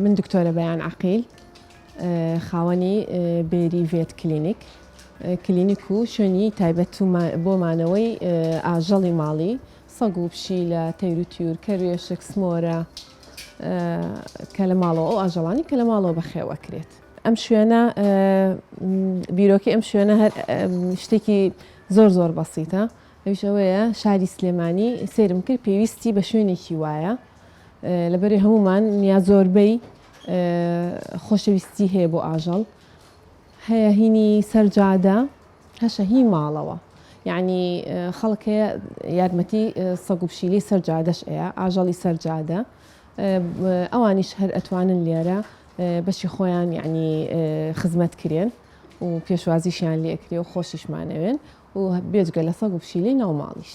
من دکتۆرە بەیان عقیل خاوەنی بێری ڤێت کلینیک کلینیک و شوێنی تایبەت بۆ مانەوەی ئاژەڵی ماڵی سەگ و پشی لە تەیروتیور کەروێشک سمۆرە کە لە ماڵەوە ئەو ئاژەڵانی کە لە ماڵەوە بەخێوەکرێت ئەم شوێنە بیرۆکی ئەم شوێنە هەر شتێکی زۆر زۆر بەسیتە ئەویشەوەیە شاری سلێمانی سێرم کرد پێویستی بە شوێنێکی وایە لەبەری هەمومان یا زۆربەی خۆشەویستی هەیە بۆ ئاژەڵ هەیە هینی سەر جادە هەشە هی ماڵەوە یعنی خەڵک هەیە یارمەتی سەگ و پشیلی سەر جادەش ئەیە ئاژەڵی سەر جادە ئەوانیش هەر ئەتوانن لێرە بەشی خۆیان یعنی خزمەت کرێن و پێشوازیشیان لێکرێ و خۆشیشمانەوێن و بێجگە لە سەگ و پشیلی ناو ماڵیش.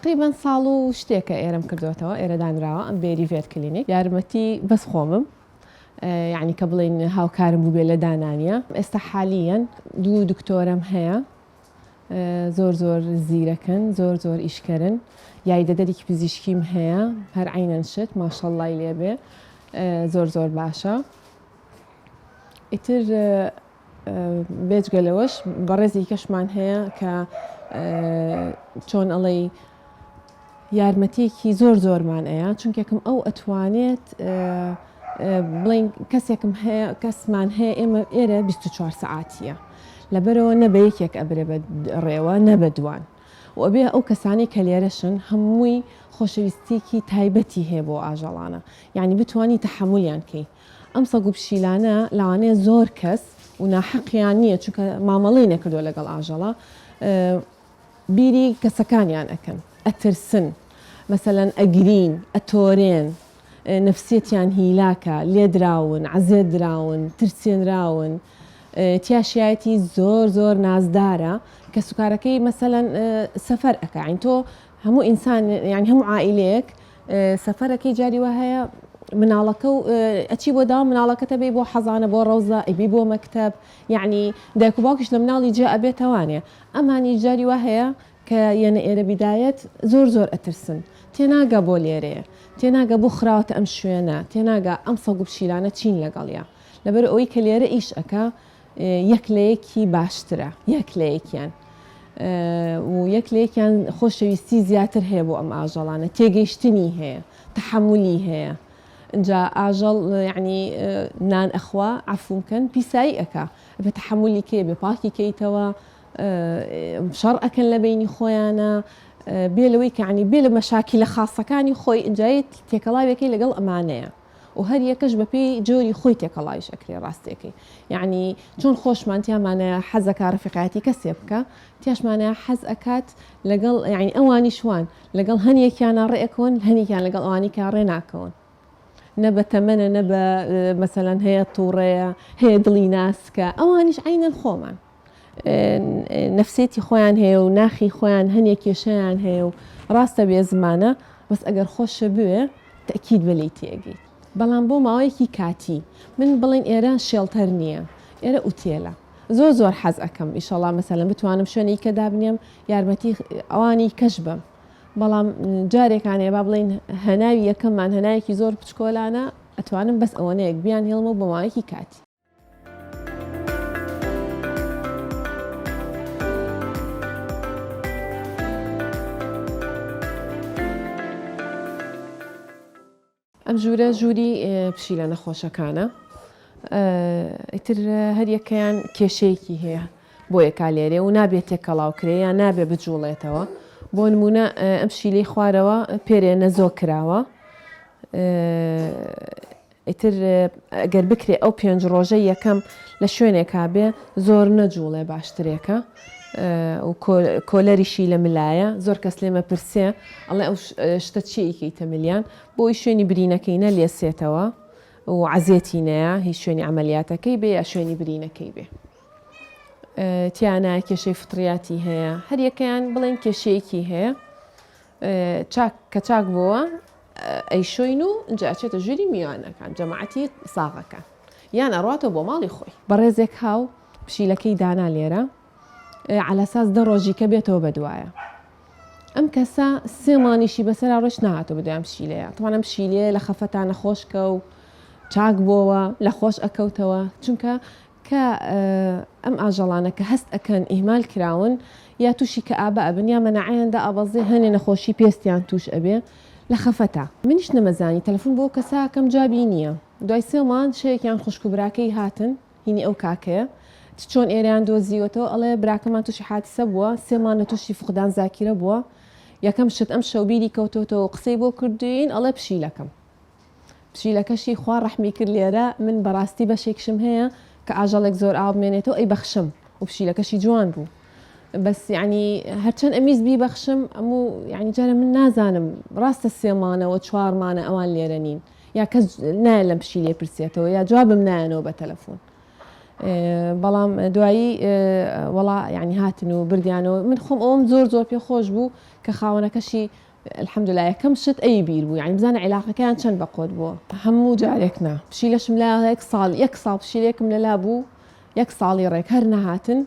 تەقریبەن ساڵ و شتێکە ئێرەم کردۆتەوە ئێرە دانراوە ئەم بێری ڤێت کلینیک یارمەتی بەس خۆمم یعنی کە بڵین هاوکارم بووبێ لە دانانیە ئێستا حالیەن دوو دکتۆرم هەیە زۆر زۆر زیرەکەن زۆر زۆر ئیشکەرن یای دەدەرێکی پزیشکیم هەیە هەر عینەن شت ماشەڵڵای لێبێ زۆر زۆر باشە ئیتر بێجگە لەوەش بەڕێزی کەشمان هەیە کە چۆن ئەڵێی یارمەتیەکی زۆر زۆرمان ئەیە چونکێکم ئەو ئەتوانێت بڵین کەسێکم هەیە کەسمان هەیە ئێمە ئێرە 24 سعاتیە لەبەرەوە نەبە یەکێک ئەبرێ بە ڕێوە نەبە دوان وەبێ ئەو کەسانی کە لێرەشن هەمووی خۆشەویستیکی تایبەتی هەیە بۆ ئاژەڵانە یعنی بتانی تحملیان کەی ئەم سەگ و پشیلانە لەوانەیە زۆر کەس و ناحەقیان نییە چونکە مامەڵەی نەکردووە لەگەڵ ئاژەڵە بیری کەسەکانیان ئەکەن ئەترسن مەسەلەن ئەگرین ئەتۆرێن نفسیەتیان هیلاکە لێدراون عەزێت دراون ترسێنراون تیاشایەتی زۆر زۆر نازدارە کە سوکارەکەی مەسەەن سەفەر ئەکەین تۆ هەموو ئینسان یان هەموو عائلەیەک سەفەرەکەی جاری وا هەیە مناڵەکە و ئەچی بۆ داوا مناڵەکەتە بێ بۆ حەزانە بۆ ڕەوزە ئەبی بۆ مەکتب یعنی دایک و باوکش لە مناڵی جا ئەبێتەوانێ ئەمانی جاری وا هەیە کە یەنە ئێرە بیدایەت زۆر زۆر ئەترسن تێناگە بۆ لێرەیە تێناگە بۆ خراوەتە ئەم شوێنە تێناگە ئەم سەگ و پشیلانە چین لەگەڵە لەبەر ئەوی کە لێرە ئیش ئەەکە یەک لە یەکی باشترە یەک لە یەکیان و یەک لە یەکیان خۆشەویستی زیاتر هەیە بۆ ئەم ئاژەڵانە تێگەیشتنی هەیە تحملی هەیە جا ئاژەڵ یعنی نان ئەخوا عفوم کەن پیسایی ئەکا بە تحملی کێ بێ پاکی کەیتەوە شەڕ ئەکەن لە بینی خۆیانە بێ لەوەی کەعنی بێ لە مەشاکی لە خاصەکانی خۆی ئنجایت تێکەڵاوێکی لەگەڵ ئەمانەیە و هەر یەکەش بە پێی جۆری خۆی تێکەڵاویش ئەکرێ ڕاستیەکەی یعنی چۆن خۆشمان تیامانە حەزەکە ڕفیقایەتی کەسێ بکە تیاشمانە حەز ئەکات لەگەڵ یعنی ئەوانی شوان لەگەڵ هەنیەکیانە ڕێکەوەن هەنیکیان لەگەڵ ئەوانی کە ڕێ ناکەون نە بە تەمەە نە بە مەسەەن هەیە تووڕەیە هەیە دڵی ناسکە ئەوانیش عینەن خۆمان نەفسێتی خۆیان هەیە و ناخی خۆیان هەنێک کێشیان هەیە و ڕاستە بێ زمانە بەس ئەگەر خۆشە بوێ تەکیید بە لی تێگەی بەڵام بۆ ماوەیەکی کاتی من بڵین ئێرە شێڵتەر نییە ئێرە ئوتێلە زۆر زۆر حەز ئەەکەم ئیشەڵا مەسەلم بتوانم شوێنی کە دابنێم یارمەتی ئەوانی کەش بم بەڵام جارێکانێ با بڵین هەناوی یەکەممان هەنایەکی زۆر بچکۆلانە ئەتوانم بەس ئەوەنەیەک بیان هێڵمە بۆماوەیەکی کاتی ئەم ژوورە ژووری پشیلە نەخۆشەکانە ئیتر هەریەکەیان کێشەیەکی هەیە بۆ یەکا لێرێ و نابێت تێکەڵاوکرێ یا نابێ بجوڵێتەوە بۆ نمونە ئەم شیلەی خوارەوە پێرێ نەزۆ کراوە ئیتر گەر بکرێ ئەو پێنج ڕۆژەی یەکەم لە شوێنێکا بێ زۆر نەجووڵێ باشترێکە و کۆلەریشی لە ملایە زۆر کەس لێمە پرسێ ئەڵێ ئەو شتە چی ئیکەیتە ملیان بۆی شوێنی برینەکەی نە لێسێتەوە و عزیێتی نەیە هیچ شوێنی ئەعملیاتەکەی بێ یا شوێنی برینەکەی بێ تیانە کێشەی فتریاتی هەیە هەریەکەیان بڵێن کێشەیەکی هەیە چاک کە چاک بووە ئەیشۆین و ئنجا ئەچێتە ژووری میوانەکان جەماعەتی ساغەکان یان ئەڕواتەوە بۆ ماڵی خۆی. بەڕێزێک هاو پشیلەکەی دانا لێرە عەلاساس دە ڕۆژی کە بێتەوە بە دوایە ئەم کەسە سێ مانیشی بەسەرا ڕۆژ نهاتەوە بەدوای ئەم پشیلەیە تەوان ئەم پشیلەیە لە خەفەتا نەخۆشکە و چاک بۆوە لە خۆش ئەکەوتەوە چونکە کە ئەم ئاژەڵانە کە هەست ئەکەن ئیهمال کراون یا تووشی کەئابە ئەبن یا مەناعەیان دائەبەزێ هەنێ نەخۆشی پێستیان تووش ئەبێ لە خەفەتا منیش نەمەزانی تەلەفون بۆ کەسە ئەکەم جوابی نییە دوای سێ مانگ شەوێکیان خوشکو براکەی هاتن هینی ئەو کاکەیە چ چۆن ئێرەیان دۆزیوەتەوە ئەڵێ براکەمان تووشی حادسە بووە سێ مانگ لە تووشی فقدان زاکیرە بووە یەکەم شت ئەمشەو بیری کەوتۆتەوە و قسەی بۆ کردووین ئەڵێ پشیلەکەم پشیلەکەشی خوا ڕەحمی کرد لێرە من بەڕاستی بەشێکشم هەیە کە ئاژەڵێک زۆر ئاو بمێنێتەوە ئەی بەخشم و پشیلەکەشی جوان بوو بەس یعنی هەرچەند ئەمیز بی بەخشم ئەموو یعنی جارە من نازانم ڕاستە سێمانەوە چوارمانە ئەوان لێرە نین یا کەس نایە لەم پشی لێ پرسێتەوە یا جوابم نایەنەوە بە تەلەفۆن بەڵام دوایی وڵا یعنی هاتن و بردیانەوە من خۆم ئەوم زۆر زۆر پێ خۆش بوو کە خاوەنەکەشی الحمدللە یەکەم شت ئەوی بیر بوو یانی بزانە عیلاقەکەیان چەند بە قۆت بووە هەموو جارێک نا پشیلەشم لا یەک ساڵ یەک ساڵ پشیلێکم لەلا بوو یەک ساڵی ڕێک هەر نەهاتن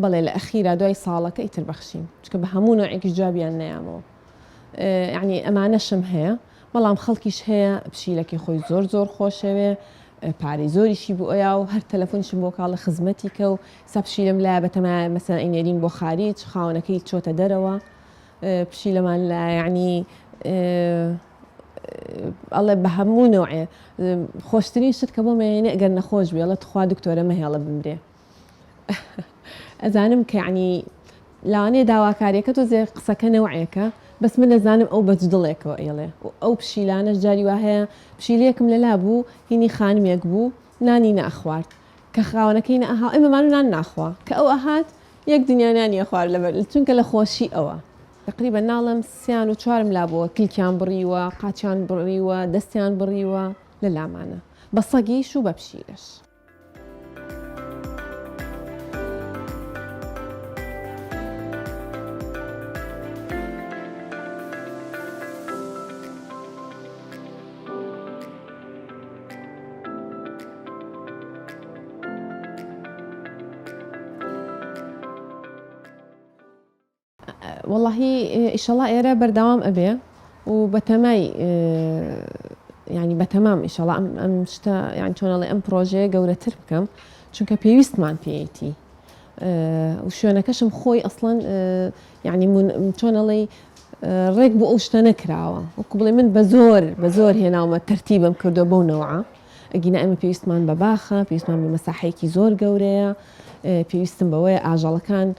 بەڵێ لە ئەخیرا دوای ساڵەکە ئیتر بەخشیم چکە بە هەموو نوعێکی جوابیان نیامەوە یعنی ئەمانەشم هەیە بەڵام خەڵکیش هەیە پشیلەکەی خۆی زۆر زۆر خۆشەوێ پارەی زۆریشی بۆ ئەویا و هەر تەلەفۆنیشم بۆ کاڵە خزمەتی کە و سەپشیلم لا بەتەمای مەسەن ئینێرین بۆ خاریج خاونەکەی چۆتە دەرەوە پشیلەمان لە یەعنی ئەڵێ بە هەموو نەوعێ خۆشترین شت کە بۆ مەیەنێ گەر نەخۆش بێڵە تخوا دکتۆرە مەهێڵە بمرێ ئەزانم کە یعنی لاوانەیە داواکاریەکە تۆ زێ قسەکە نەوعێکە بەس من ئەزانم ئەو بەج دڵێکەوە ئێڵێ ئەو پشیلانەش جاری وا هەیە پشیلەیەکم لەلا بوو هینی خانمێک بوو نانی ناخوارد کە خاوەنەکەی نە ئەها ئێمە مانو نان ناخوا کە ئەو ئەهات یەک دنیا نانی ئەخوارد لەبەر چونکە لە خۆشی ئەوە تقریبا ناڵم سیان و چوارم لابووە کلکیان بڕیوە قاچیان بڕیوە دەستیان بڕیوە لە لامانە بە سەگیش و بە پشیلەش. وەڵی ئیشەڵا ئێرە بەردەوام ئەبێ و بەتەمای ینی بەتەمام ئیشەڵا ئەم ئەم شتە یان چۆنەڵێ ئەم پرۆژەیە گەورەتر بکەم چونکە پێویستمان پێیتی شوێنەکەشم خۆی ئەسڵەن یەعنی چۆن ئەڵێی ڕێک بۆ ئەو شتە نەکراوە وەکو بڵێ من بە زۆر بە زۆر هێناومە تەرتیبم کردو بەو نەوعە ئەگینا ئێمە پێویستمان بە باخە پێویستمان بە مەساحەیەکی زۆر گەورەیە پێویستم بەوەیە ئاژەڵەکان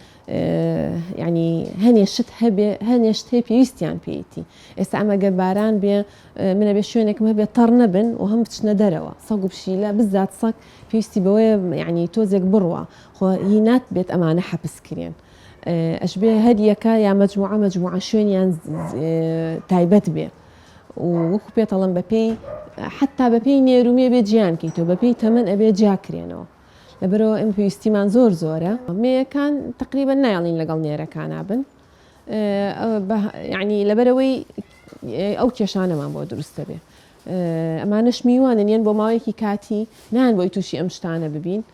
ینی هەنێ شت هەبێ هەنێ شت هەیە پێویستیان پێیتی ئێستا ئەمەگەر باران بێ منە بێ شوێنێکم هەبێ تەڕ نەبن و هەم بچنە دەرەوە سەگ و پشیلە بزات سەک پێویستی بەوەیە ینی تۆزێک بڕوە خۆ هی نات بێت ئەمانە حەپسکرێن ئەشبێ هەر یەکە یا مەجموعە مەجموعە شوێنیان تایبەت بێ وەکو پێتەڵم بەپێی حتا بەپێی نێرومێ بێ جیان کەیتەوە بەپێی تەمەەن ئەبێ جیاکرێنەوە لەبەرەوە ئەم پێویستیمان زۆر زۆرە مەیەکان تقریبا نایڵین لەگەڵ نێرەکانە بن ینی لەبەرەوەی ئەو کێشانەمان بۆ دروستە بێ ئەمانش میوانن یەن بۆ ماوەیەکی کاتی نان بۆی تووشی ئەم شتانە ببین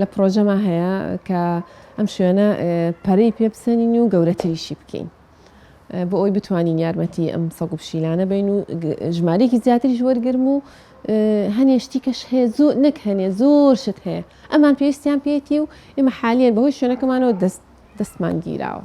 لە پرۆژەما هەیە کە ئەم شوێنە پەرەی پێ بسەنین و گەورەتریشی بکەین بۆ ئەوی بتوانین یارمەتی ئەم سەگ و پشیلانە بین و ژمارێکی زیاتریش وەرگرم و هەنێشتی کەش هەیە زۆر نەک هەنێ زۆر شت هەیە ئەمان پێویستیان پێێتی و ئێمە حالیان بەهۆی شوێنەکەمانەوە دەست دەستمان گیراوە